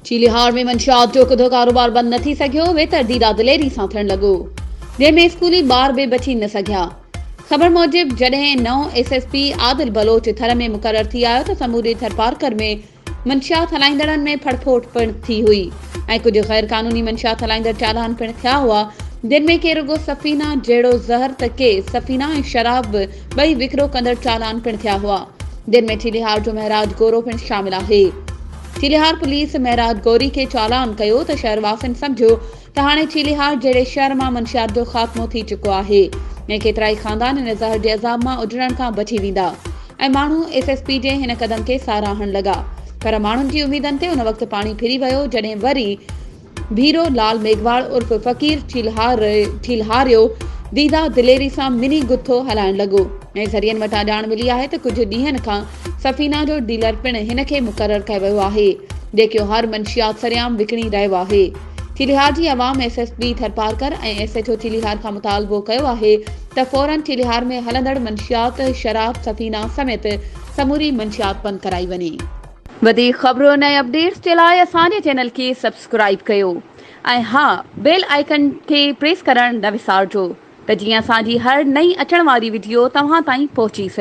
چيليهار ۾ منشيات جو ڪڌو ڪاروبار بند نه ٿي سگهيو، ويتر ديرا دليري سان ٿيڻ لڳو، جنهن ۾ اسڪولي ٻار به بچي نه سگهيا. خبر موجب جڏهن نئون S S P Adil Baloch Thar ۾ مقرر ٿي آيو ته سموري ٿرپارڪر ۾ منشيات هلائيندڙن ۾ ڦڙڦوٽ پڻ ٿي هئي ۽ ڪجهه غير قانوني منشيات هلائيندڙ چالان پڻ ٿيا هئا، جن ۾ ڪي رڳو سفينا جهڙو زهر ته ڪي سفينا ۽ شراب به ٻئي وڪرو ڪندڙ چالان پڻ ٿيا هئا، جن ۾ چيلهيار جو مهراج گورو پڻ شامل آهي. چيلهيار پوليس مهراج گوري کي چالان ڪيو ته شهرواسين سمجهيو ته هاڻي چيليهار جهڙي شهر مان منشيات جو خاتمو ٿي چڪو آهي ۽ ڪيترائي خاندان هن زهر جي عذاب مان اجڙڻ کان بچي ويندا ۽ ماڻهو ايس ايس پي جي هن قدم کي ساراهڻ لڳا پر ماڻهن جي اميدن تي ان وقت پاڻي ڦري ويو جڏهن وري ڀيرو لال ميگهواڙ عرف فقير چيلهاريو ديده دليري سان مني گٿو هلائڻ لڳو ۽ ذريعن وٽان ڄاڻ ملي آهي ته ڪجهه ڏينهن کان سفينا جو ڊيلر پڻ هن کي مقرر ڪيو ويو آهي جيڪيو هر منشيات سرعام وڪڻي رهيو آهي چيلهيار جي عوام S S P Tharparkar ۽ S H O Chelhar کان مطالبو ڪيو آهي ته فورن چيلهيار ۾ هلندڙ منشيات شراب سفينه سميت سموري منشيات بند ڪرائي وڃي. وڌيڪ خبرن ۽ اپڊيٽس جي لاء اسان جي چينل کي سبسڪرائيب ڪيو ۽ ها بيل آئيڪن کي پريس ڪرڻ نه وسارجو ته جيئن اسان جي هر نئين اچڻ واري وڊيو توهان تائين پهچي سگهي.